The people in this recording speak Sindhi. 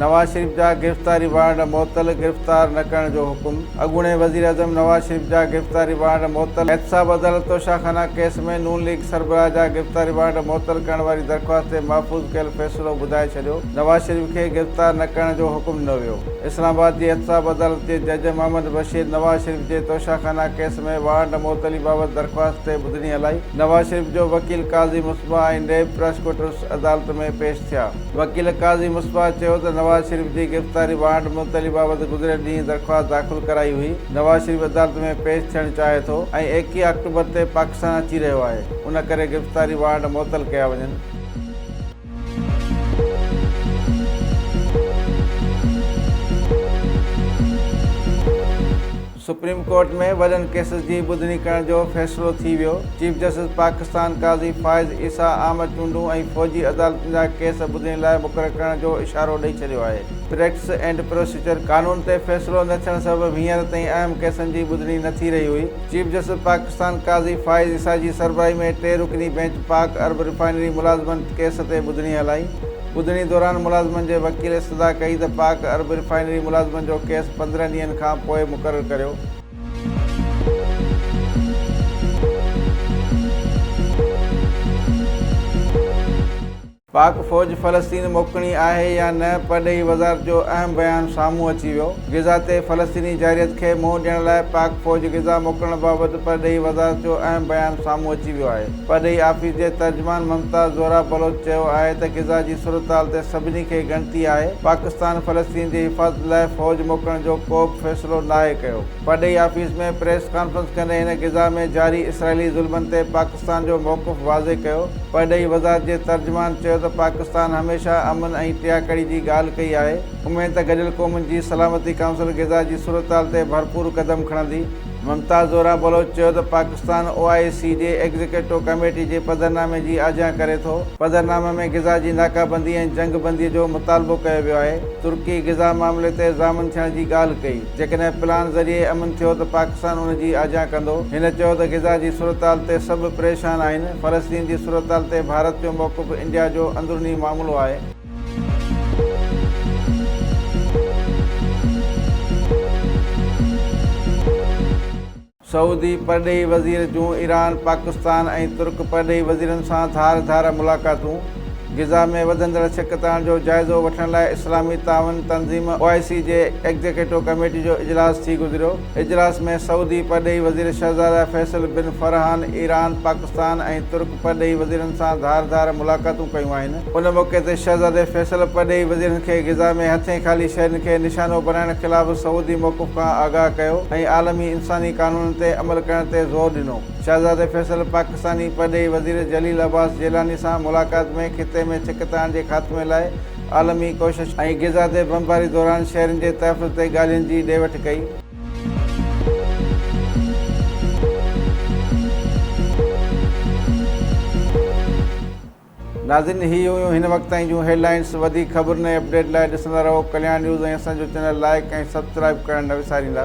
نواز شريف جا گرفتاري وارنٽ معطل، گرفتار نه ڪرڻ جو حڪم اڳوڻي وزيراعظم نواز شريف جا گرفتاري وارنٽ معطل، احتساب عدالت توشه خانه ڪيس ۾ نون ليگ سربراهه جا گرفتاري وارنٽ معطل ڪرڻ واري درخواست تي محفوظ ڪيل فيصلو ٻڌائي ڇڏيو، نواز شريف کي گرفتار نه ڪرڻ جو حڪم ڏنو ويو، اسلام آباد جي احتساب عدالت جي جج محمد بشير نواز شريف جي توشه خانه ڪيس ۾ وارنٽ معطلي بابت درخواست تي ٻڌڻي هلائي، نواز شريف جو وڪيل قاضي مصباح ۽ نيب پراسيڪيوٽرز عدالت ۾ پيش ٿيا. وڪيل قاضي مصباح چيو ته نواز شريف جي گرفتاري وارنٽ معطلي بابت گذريل ڏينهن درخواست داخل ڪرائي هئي، نواز شريف عدالت ۾ پيش ٿيڻ چاهي ٿو ۽ ايڪيهه آڪٽوبر تي پاڪستان اچي رهيو آهي، ان ڪري گرفتاري وارنٽ معطل ڪيا وڃن. سپريم ڪورٽ ۾ وڏن ڪيسز جي ٻڌڻي ڪرڻ جو فيصلو ٿي ويو، چيف جسٽس پاڪستان قاضي فائز عيسيٰ عام چونڊون ۽ فوجي عدالتن جا ڪيس ٻڌڻي لاء مقرر ڪرڻ جو اشارو ڏئي ڇڏيو آهي، پريڪٽس اينڊ پروسيجر قانون تي فيصلو نه ٿيڻ سبب هينئر تائين اهم ڪيسن جي ٻڌڻي نه ٿي رهي هئي، چيف جسٽس پاڪستان قاضي فائز عيسيٰ جي سربراهي ۾ ٽي رڪني بينچ پاڪ ارب ريفائنري ملازمن ڪيس تي ٻڌڻي هلائي. ٻڌڻي دوران ملازمن جي وڪيل استدعا ڪئي ته پاڪ عرب ريفائنري ملازمن جو ڪيس پندرهن ڏينهن کان پوء مقرر ڪريو. پاڪ فوج فلسطين موڪڻي آهي يا نه، پرڏيهي وزارت جو اهم بيان سامهون اچي ويو، غزه تي فلسطيني جارحيت کي منهن ڏيڻ لاء پاڪ فوج غزه موڪلڻ بابت پرڏيهي وزارت جو اهم بيان سامهون اچي ويو آهي. پرڏيهي آفيس جي ترجمان ممتاز زهره بلوچ چيو آهي ته غزه جي صورتحال تي سڀني کي ڳڻتي آهي، پاڪستان فلسطين جي حفاظت لاء فوج موڪلڻ جو ڪوبه فيصلو ناهي ڪيو. پرڏيهي آفيس ۾ پريس ڪانفرنس ڪندي هن غزه ۾ جاري اسرائيلي ظلمن تي پاڪستان جو موقف واضح ڪيو. پرڏيهي وزارت جي ترجمان چيو ته پاڪستان هميشه امن ۽ ٽياڪڙي جي ڳالهه ڪئي آهي، اميد ته گڏيل قومن جي سلامتي ڪائونسل غزه جي صورتحال تي ڀرپور قدم کڻندي. ممتاز زهره بلوچ چيو ته پاڪستان او آء سي جي ايگزيڪيوٽو ڪميٽي جي پڌرنامي جي آجيان ڪري ٿو، پڌرنامي ۾ غزا جي ناڪابندي ۽ جنگ بندي جو مطالبو ڪيو ويو آهي، ترڪي غزا معاملي تي ضامن ٿيڻ جي ڳالهه ڪئي، جيڪڏهن پلان ذريعي امن ٿيو ته پاڪستان ان جي آجيان ڪندو، هن چيو ته غزا جي صورتحال تي سڀ پريشان آهن، فلسطين جي صورتحال تي ڀارت جو موقف انڊيا جو اندروني معاملو آهي. سعودي پرڏيهي وزير جون ايران، پاڪستان ۽ ترڪ پرڏيهي وزيرن سان ڌار ڌار ملاقاتون، غزه ۾ وڌندڙ ڇڪتاڻ جو جائزو وٺڻ لاء اسلامي تعاون تنظيم او آء سي جي ايگزيڪيٽو ڪميٽي جو اجلاس ٿي گذريو، اجلاس ۾ سعودي پرڏيهي وزير شهزاده Faisal bin Farhan Iran, Pakistan ۽ ترڪ پرڏيهي وزيرن سان ڌار ڌار ملاقاتون ڪيون آهن. ان موقعي تي شهزادي فيصل پرڏيهي وزيرن کي غزه ۾ هٿين خالي شهرين کي نشانو بڻائڻ خلاف سعودي موقف کان آگاهه ڪيو ۽ عالمي انساني قانونن تي عمل ڪرڻ تي زور ڏنو. شهزادي فيصل پاڪستاني پرڏيهي وزير جليل عباس جيلاني سان ملاقات ۾ خطي ۾ ڇڪتاڻ جي خاتمي لاء عالمي ڪوششن ۽ غزه تي بمباري دوران شهرين جي تحفظ تي ڳالهين جي ڏي وٺ ڪئي. ناظرين هي هيون هن وقت تائين جون هيڊلائينس وڌيڪ خبرن ۽ اپڊيٽ لاء ڏسندا رهو ڪليان نيوز ۽ اسان جو چينل لائيڪ ۽ سبسڪرائيب ڪرڻ نه وساريندا.